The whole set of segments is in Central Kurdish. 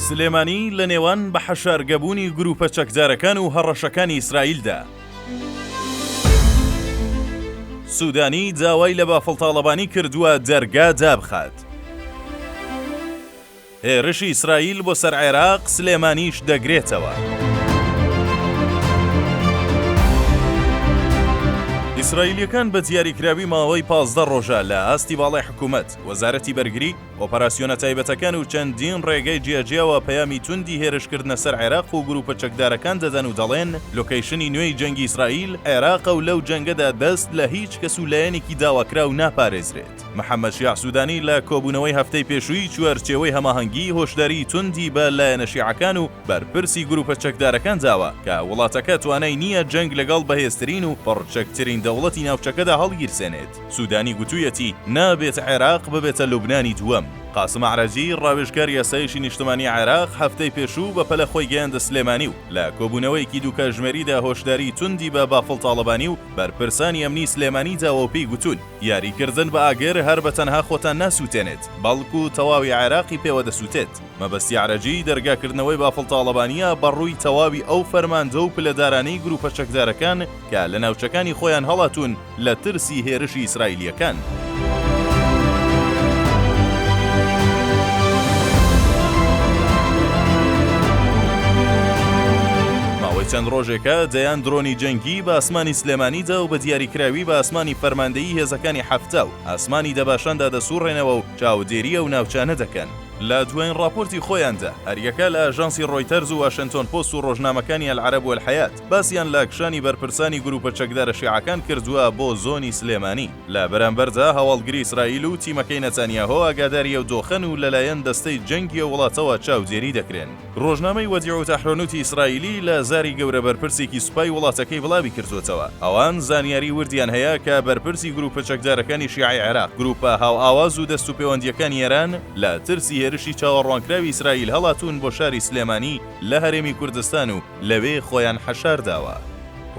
سلێمانی لە نێوان بە حەشارگەبوونی گرووپە چەکدارەکان و هەڕەشەکانی ئیسرائیلدا. سوودانی داوای لە بافڵ تاڵەبانی کردووە دەرگا دابخات. هێرشی ئیسرائیل بۆ سەر عێراق سلێمانیش دەگرێتەوە. ئیسرائیلییەکان بە دیاریکراوی ماوەی پازدە ڕۆژە لە ئاستی باڵای حکوومەت. وەزارەتی بەرگری، ئۆپەراسیۆنە تایبەتەکان و چەندین ڕێگەی جیاجیاوە پەیامی توندی هێرشکردنە سەر عێراق و گرووپە چەکدارەکان دەدەن و دەڵێن، لۆکەیشنی نوێی جەنگی ئیسرائیل، عێراقە و لەو جەنگەدا دەست لە هیچ کەس و لایەنێکی داواکراو ناپارێزرێت. محەممەد شیاع سوودانی لە کۆبوونەوەی هەفتەی پێشووی چوارچێوەی هەماهەنگی، هۆشداریی توندی بە لایەنە شیعەکان و بەرپرسی گرووپە چەکدارەکان داوە کە وڵاتەکە توانای نییە جەنگ لەگەڵ بەهێزترین و پڕچەکترین دەوڵەتی ناوچەکەدا هەڵگیرسێنێت. سوودانی گوتوویەتی، نابێت عێراق ببێتە لوبنانی دووەم. قاسم ئەعرەجی، ڕاوێژکاری ئاسایشی نیشتمانیی عێراق هەفتەی پێشوو بەپەلە خۆی گەیاندە سلێمانی و لە کۆبوونەوەیەکی دوو کاژمێریدا هۆشداریی توندی بە بافڵ تاڵەبانی و بەرپرسانی ئەمنیی سلێمانی داوە و پێی گوتوون، یاریکردن بە ئاگر هەر بە تەنها خۆتان ناسووتێنێت، بەڵکو تەواوی عێراقی پێوە دەسووتێت. مەبەستی ئەعرەجی، دەرگاکردنەوەی بافڵ تاڵەبانییە بە ڕووی تەواوی ئەو فەرماندە و پلەدارانەی گرووپە چەکدارەکان کە لە ناوچەکانی خۆیان هەڵاتوون، لە ترسی هێرشی ئیسرائیلییەکان. ماوەی چەند ڕۆژێکە دەیان درۆنی جەنگی بە ئاسمانی سلێمانیدا و بە دیاریکراوی بە ئاسمانی فەرماندەیی هێزەکانی حەفتا و ئاسمانی دەباشاندا دەسوڕێنەوە و چاودێری ئەو ناوچانە دەکەن. لە دوایین ڕاپۆرتی خۆیاندا، هەریەکە لە ئاژانسی ڕۆیتەرز و واشێنتۆن پۆست و ڕۆژنامەکانی ئەلعەرەب و ئەلحەیات، باسیان لە کشانی بەرپرسانی گروپە چەکدارە شیعەکان کردووە بۆ زۆنی سلێمانی، لە بەرامبەردا هەواڵگری ئیسرائیل و تیمەکەی نەتانیاهۆ ئاگاداری ئەو دۆخەن و لەلایەن دەستەی جەنگی ئەو وڵاتەوە چاودێری دەکرێن. رۆژنامەی وەدیعوت ئەحرۆنوتی ئیسرائیلی لە زاری گەورە بەرپرسێکی سوپای وڵاتەکەی بڵاوی کردووەتەوە، ئەوان زانیاری وردیان هەیە کە بەرپرسی گروپە چەکدارەکانی شیعەی عێراق، گروپە هاوئاواز و دەستوپێوەندییەکانی ئێران لە ترسی هێرشی چاوەڕوانکراوی ئیسرائیل هەڵاتوون بۆ شاری سلێمانی لە هەرێمی کوردستان و لەوێ خۆیان حەشار داوە.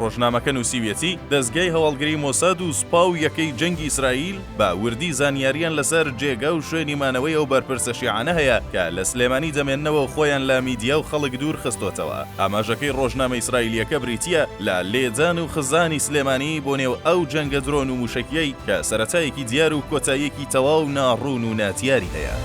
ڕۆژنامەکە نووسیویەتی، دەزگای هەواڵگری مۆساد و سوپا و یەکەی جەنگی ئیسرائیل بە وردی زانیارییان لەسەر جێگا و شوێنی مانەوەی ئەو بەرپرسە شیعانە هەیە کە لە سلێمانی دەمێننەوە و خۆیان لە میدیا و خەڵک دوور خستۆتەوە. ئاماژەکەی ڕۆژنامە ئیسرائیلییەکە بریتییە لە لێدان و خزانی سلێمانی بۆ نێو ئەو جەنگە درۆن و مووشەکییەی کە سەرەتایەکی دیار و کۆتاییەکی تەواو ناڕوون و نادیاری هەیە.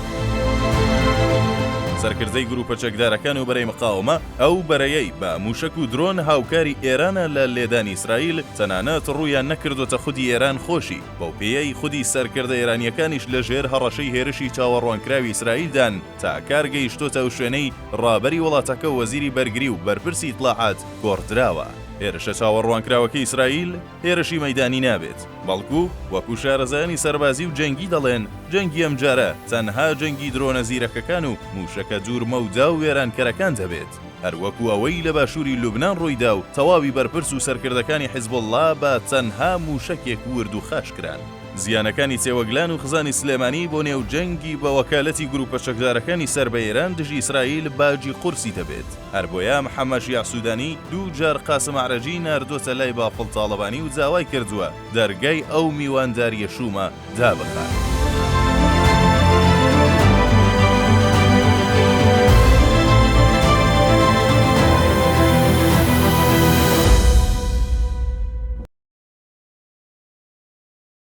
سەرکردەی گرووپە چەکدارەکان و بەرەی مقاوەمە، ئەو بەرەیەی بە موشەک و درۆن هاوکاری ئێرانە لە لێدانی ئیسرائیل، تەنانەت ڕوویان نەکردۆتە خودی ئێران خۆشی، بەو پێیەی خودی سەرکردە ئێرانیەکانیش لە ژێر هەڕەشەی هێرشی چاوەڕوانکراوی ئیسرائیلدان، تا کار گەیشتۆتە ئەو شوێنەی ڕابەری وڵاتەکە و وەزیری بەرگری و بەرپرسی ئیتڵاعات گۆڕدراوە. هێرشە چاوەڕوانکراوەکەی ئیسرائیل، هێرشی مەیدانی نابێت، بەڵکو وەکو شارەزایانی سەربازی و جەنگی دەڵێن، جەنگی ئەمجارە تەنها جەنگی درۆنە زیرەکەکان و موشەکە دوور مەودا و وێرانکەرەکان دەبێت، هەر وەکو ئەوەی لە باشوری لوبنان ڕوویدا و تەواوی بەرپرس و سەرکردەکانی حزبوڵڵا بە تەنها موشەکێک ورد و خاش کران. زیانەکانی تێوەگلان و خزانی سلێمانی بۆ نێو جەنگی بە وەکالەتی گروپە چەکدارەکانی سەر بە ئێران دژی ئیسرائیل باجی قورسی دەبێت. هەر بۆیە محەمەد شیاع سودانی دوو جار قاسم ئەعرەجی ناردۆتە لای بافڵ تاڵەبانی و داوای کردووە دەرگای ئەو میواندارییە شوومە دابخات.